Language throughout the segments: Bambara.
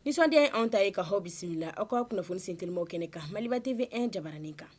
Nisɔndiya anw ta ye ka aw bisimila aw ka kunnafoni sen tw kɛnɛ kan Maliba TV e jamana in kan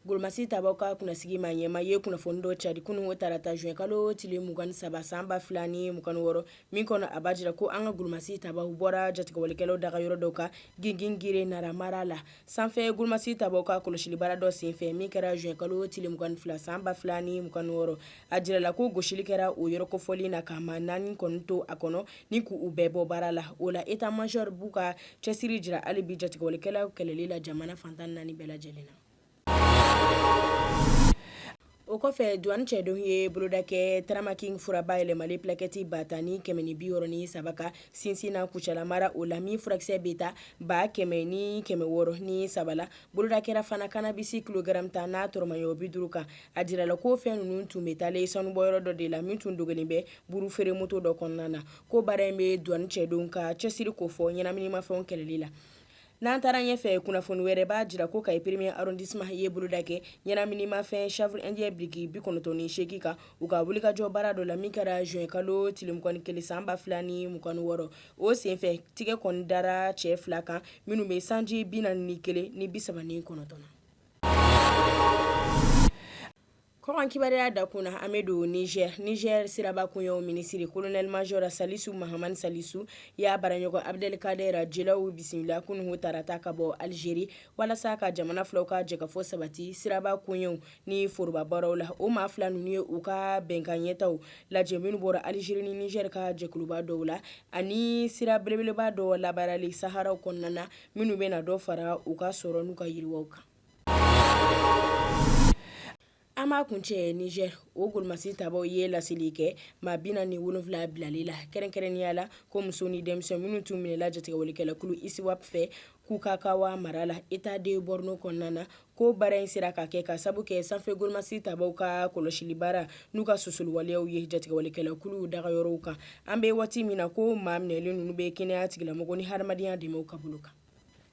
golomasi tabaaw ka kunnasigi maa ɲɛmaa ye kunnafoni dɔ cari kunun tarata zuwɛnkalo tile mugan ni saba san ba fila ni mugan ni wɔɔrɔ min kɔnɔ a b'a jira ko an ka golomasi tabaaw bɔra jatigɛwalekɛlaw dagayɔrɔ dɔ kan Gingere Nara mara la Sanfɛ golomasi tabaaw ka kɔlɔsili baara dɔ senfɛ min kɛra zuwɛnkalo tile mugan ni fila san ba fila ni mugan ni wɔɔrɔ a jirala ko gosili kɛra o yɔrɔ kofɔlen na ka maa naani kɔni to a kɔnɔ ni k' u bɛɛ bɔ baara la o la état-major b'u ka cɛsiri jira hali bi jatigɛwalekɛlaw kɛlɛli la jamana fan tan ni naani bɛɛ lajɛlen na O kɔfɛ Douane cɛdenw ye boloda kɛ Tramaking fura bayɛlɛmali plaquette ba tan ni kɛmɛ ni bi wɔɔrɔ ni saba kan Sinsina Kucala mara o la min furakisɛ bɛ ta ba kɛmɛ ni kɛmɛ wɔɔrɔ ni saba la. Boloda kɛra fana cannabis kilogaramu tan n'a tɔrɔmaɲɔ bi duuru kan. A jirala ko fɛn ninnu tun bɛ taalen sanubɔyɔrɔ dɔ de la min tun dogolen bɛ buuru feere moto dɔ kɔnɔna na. Ko baara in bɛ douane cɛdenw ka cɛsiri kofɔ ɲɛnaminimafɛnw kɛlɛli la. N'an taara ɲɛ fɛ kunnafoni wɛrɛ b'a jira ko Kayi premier arrondissement ye boloda kɛ ɲɛnaminimafɛn chanvre indien biriki bi kɔnɔntɔn ni seegin kan u ka wulikajɔ baara dɔ la min kɛra zuwɛnkalo tile mugan ni kelen san ba fila ni mugan ni wɔɔrɔ o senfɛ tɛgɛ kɔni dara cɛ fila kan minnu bɛ sanji bi naani ni kelen ni bi saba ni kɔnɔntɔn Kɔkan kibaruya dankun na an bɛ don Nizɛri Nizɛri siraba koɲɛw minisiri kolonɛli mazɔri Salisu Mahamani Salisu y'a baarakɛɲɔgɔn Abdel Kader Djellaoui bisimila kunun tarata ka bɔ alizeri walasa ka jamana filaw ka jɛkafɔ sabati siraba koɲɛw ni foroba baaraw la o maa fila ninnu ye u ka bɛnkan ɲɛtaaw lajɛ minnu bɔra alizeri ni Nizɛri ka jɛkuluba dɔw la ani sira belebelebaa dɔ labaarali saharaw kɔnɔna na minnu bɛna dɔ fara u ka sɔrɔ n'u ka yiriwa kan An b'a kuncɛ Nizeriya golomasi tabaaw ye laseli kɛ maa bi naani ni wolonwula bilali la kɛrɛnkɛrɛnnenya la ko muso ni denmisɛnnin minnu tun minɛla jatigɛwalekɛlakulu ISWAP fɛ Kukawa mara la État de Borno kɔnɔna na ko baara in sera ka kɛ ka sabu kɛ sanfɛ golomasi tabaaw ka kɔlɔsili baara n'u ka susuli waleyaw ye jatigɛwalekɛlakulu dagayɔrɔw kan an bɛ waati min na ko maa minɛlen ninnu bɛ kɛnɛya tigilamɔgɔw ni hadamadenya dɛmɛw ka bolo kan